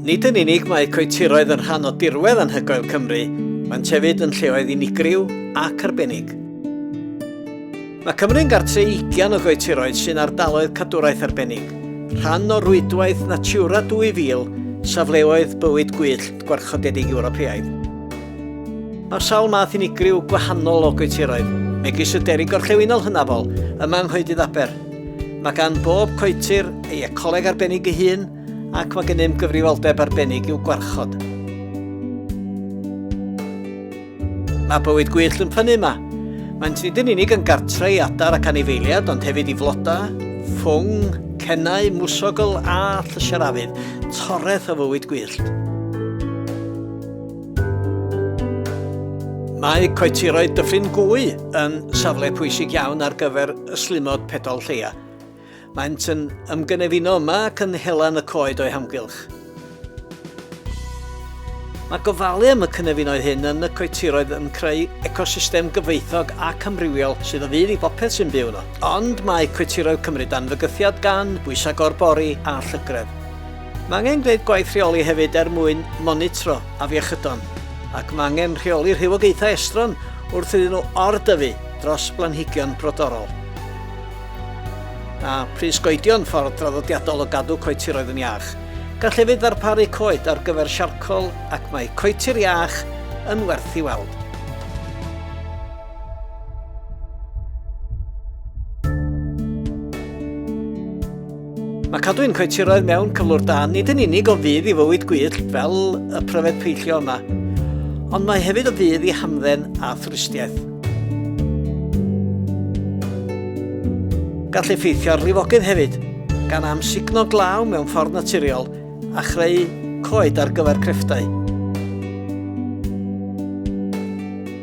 Nid yn unig mae coetiroedd yn rhan o dirwedd anhygoel Cymru, mae'n tefyd yn lleoedd unigryw ac arbennig. Mae Cymru'n gartre i ugian o goetiroedd sy'n ardaloedd cadwraeth arbennig, rhan o rwydwaith Natura 2000, safleoedd bywyd gwyllt gwarchodedig Ewropeaidd. Mae sawl math unigryw gwahanol o goetiroedd, megis y deri gorllewinol hynafol yma yng Nghoedydd Aber. Mae gan bob coetir ei ecoleg arbennig ei hun ac mae gennym gyfrifoldeb arbennig i'w gwarchod. Mae bywyd gwyllt yn ffynnu yma. Mae'n nid yn unig yn gartre i adar ac anifeiliad, ond hefyd i floda, ffwng, cennau, mwsogl a llysiarafydd, toreth o fywyd gwyllt. Mae coetiroedd Dyffryn Gwy yn safle pwysig iawn ar gyfer y slumod pedol lleia. Maent yn ymgynefino yma ac yn hela yn y coed o'i hamgylch. Mae gofalu am y cynefinoedd hyn yn y coetiroedd yn creu ecosystem gyfoethog ac amrywiol sydd o fydd i bopeth sy'n byw yno. Ond mae coetiroedd Cymru dan fygythiad gan bwysau gorbori a llygredd. Mae angen gwneud gwaith rheoli hefyd er mwyn monitro afiechydon, ac mae angen rheoli rhywogaethau estron wrth iddyn nhw or-dyfu dros blanhigion brodorol. Mae pris goedio'n ffordd draddodiadol o gadw coetiroedd yn iach. Gall hefyd ddarparu coed ar gyfer siarcol ac mae coetir iach yn werth i weld. Mae cadw ein coetiroedd mewn cyflwr da nid yn unig o fydd i fywyd gwyllt fel y pryfed peillio yma, ond mae hefyd o fydd i hamdden a thwristiaeth. Gall effeithio ar lifogydd hefyd, gan amsugno glaw mewn ffordd naturiol a chreu coed ar gyfer crefftau.